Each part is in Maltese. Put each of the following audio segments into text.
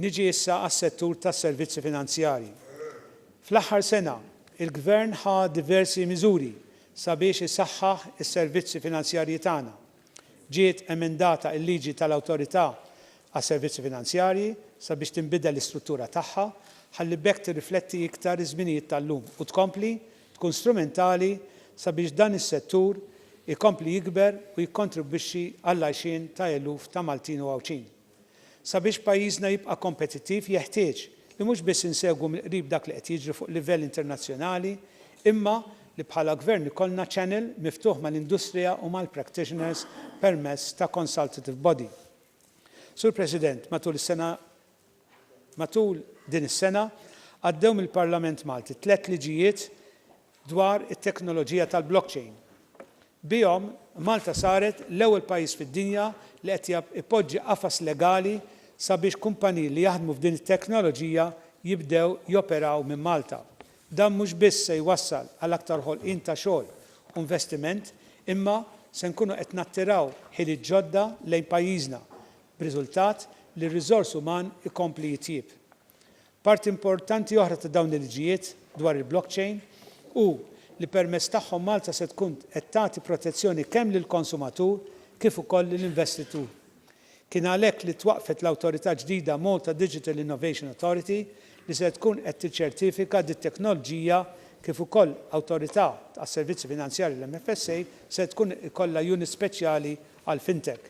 Niġi issa għas-settur tas-servizzi finanzjarji. Fl-aħħar sena, il-Gvern ħa diversi miżuri sabiex isaħħaħ is-servizzi finanzjarji tagħna. Ġiet emendata l-liġi tal-Awtorità għas-Servizzi Finanzjarji sabiex tinbidel l-istruttura tagħha ħalli b'hekk tirrifletti iktar iż-żminijiet tal-lum u tkompli tkun strumentali sabiex dan is-settur ikompli jikber u jikkontribwixxi għall-għajxien ta' eluf ta' Maltin u Għawdxin. Sabiex pajjiżna jibqa' kompetittiv jeħtieġ li mhux biss insegwu mill-qrib dak li qed jiġri fuq livell internazzjonali imma li bħala Gvern ikollna channel miftuħ mal-industrija u mal-practitioners permezz ta' consultative body. Sur President, matul is-sena matul din is-sena għaddew mill-Parlament Malti tliet liġijiet dwar it-teknoloġija tal-blockchain. Bihom, Malta saret l-ewwel pajjiż fid-dinja li qed ipoġġi qafas legali sabiex kumpaniji li jaħdmu f'din it-teknoloġija jibdew joperaw minn Malta. Dan mhux biss se jwassal għal aktar ħolqien ta' xogħol u investiment, imma se nkunu qed nattiraw ħiliet ġodda lejn pajjiżna, b'riżultat li r-riżors uman ikompli jitjieb. Parti importanti oħra ta' dawn il-liġijiet dwar il-blockchain hu li permezz tagħhom Malta se tkun qed tagħti protezzjoni kemm lill-konsumatur kif ukoll lill-investitur. Kien għalhekk li twaqqfet l-awtorità ġdida Malta Digital Innovation Authority li se tkun qed tiċċertifika dit-teknolġija kif ukoll Awtorità għas-Servizzi Finanzjarji l-MFSA se tkun ikollha unit speċjali għall-fintech.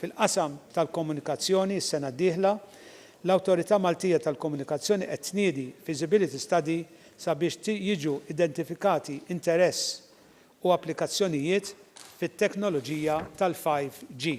Fil-qasam tal-komunikazzjoni, is-sena d-dieħla, l-Awtorità Maltija tal-Komunikazzjoni qed tniedi feasibility study sabiex jiġu identifikati interess u applikazzjonijiet fit-teknoloġija tal-5G.